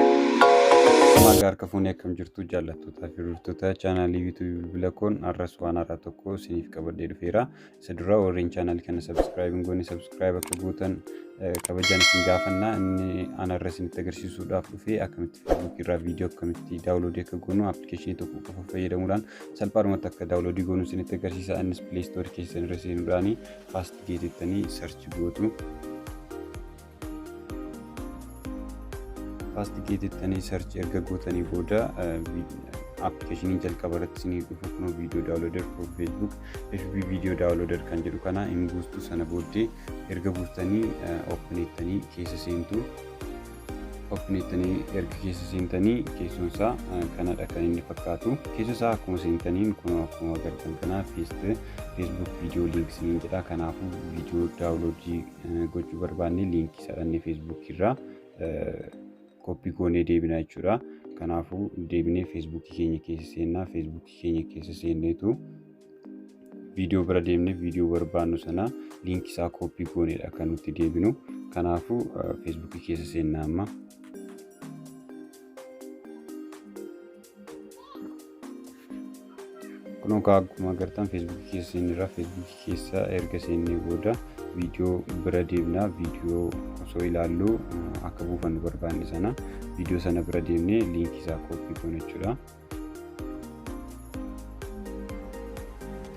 Maagaa harka fuunee akkam jirtu jaallattootaa fi hordoftoota chaanaalii yuutuubii bilbila koon har'as waan haaraa tokko isiniif qabadhee dhufeera. Isa dura warreen chaanaalii kana sabskiraayib hin goone sabskiraayib akka gootan kabajaan isin gaafanna. Inni aan har'a isinitti agarsiisuudhaaf dhufee akkamitti feesbuukii irraa viidiyoo akkamitti daawuloodii akka goonu appilikeeshinii tokko qofa fayyadamuudhaan salphaadhumatti akka daawuloodii goonuu isinitti agarsiisa innis pilee istoorii keessan irra seenuudhaani faast gee jettanii sarchi gootu faast gee jettanii sarchi erga gootanii booda appilikeeshinii jalqaba irratti isinii dhufu kun viidiyoo daawuloodar for feesbuuk fb viidiyoo daawuloodar kan jedhu kana hin buustu sana booddee erga buustanii ooppineettanii keessa seentu Ofineettanii erga keessa seentanii keessoon isaa kanadha kan inni fakkaatu. Keessa isaa akkuma seentaniin kun akkuma agartan kana feeste feesbuuk viidiyoo liink siniin jedha. Kanaafuu viidiyoo daawuloodii gochuu barbaanne liinkii isaa dhannee feesbuukii irraa koppii goonee deebina jechuudha. Kanaafuu deebinee feesbuukii keenya keessa seennaa feesbuukii keenya keessa seenneetu viidiyoo bira deemnee viidiyoo barbaannu sana liinkii isaa kooppii gooneedha kan nuti deebinu kanaafuu feesbuukii keessa seennaa amma kun egaa akkuma agartan feesbuukii keessa seenneerra feesbuukii keessa erga seennee booda viidiyoo bira deemnaa viidiyoo osoo ilaallu akka buufannu barbaanne sana viidiyoo sana bira deemnee liinkii isaa kooppii goona jechuudha.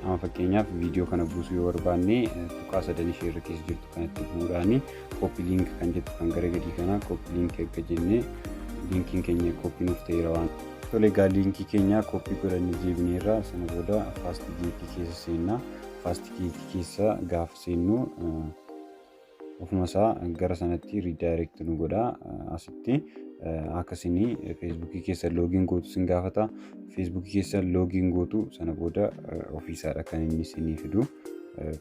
Amma fakkeenyaaf viidiyoo kana buusuu yoo barbaanne tuqaa sadan ishee irra keessa jirtu kanatti bu'uudhaani kooppi liink kan jettu kan gara gadii kana kooppi liink akka jenne liinkiin keenya kooppi nuuf ta'eera waan. Tole egaa liinkii keenya kooppi godhanne deebineerra sana booda faasti geetii keessa seenna faasti geetii keessa gaafa seennu ofuma isaa gara sanatti redirect nu godha asitti akka isin feesbuukii keessa loogiin gootu isin gaafata feesbuukii keessa loogiin gootu sana booda ofiisaadha kan inni isinii fidu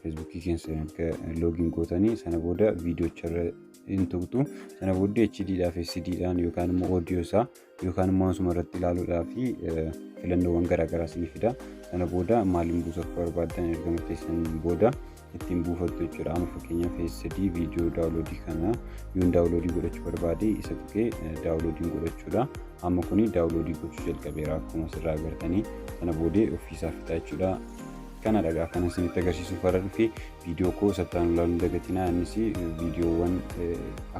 feesbuukii keessa erga loogiin gootanii sana booda viidiyocharra hin tuqxu sana booddee HD dhaa fi CD dhaan yookaan immoo audio isaa yookaan immoo asuma irratti ilaaluudhaa fi filannoowwan garaagaraa isinii fida sana booda maaliin buusa akka barbaaddan erga murteessan booda ittiin buufattu jechuudha amma fakkeenyaaf SD viidiyoo daawuloodii kana yoon daawuloodii godhachuu barbaade isa tuqee daawuloodiin godhachuudha amma kuni daawuloodii gochuu jalqabeera akkuma asirraa agartanii sana boodee ofiisaa fixaa jechuudha kana dhaga akkana isinitti agarsiisuuf warra dhufe viidiyoo koo sattaan ilaaluun dagatinaa innis viidiyoowwan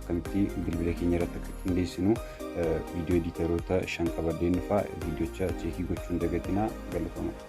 akkamitti bilbila keenya irratti akka qindeessinu viidiyoo editaroota shan qabadheen dhufaa viidiyocha cheekii gochuun dagatinaa galatoomaa.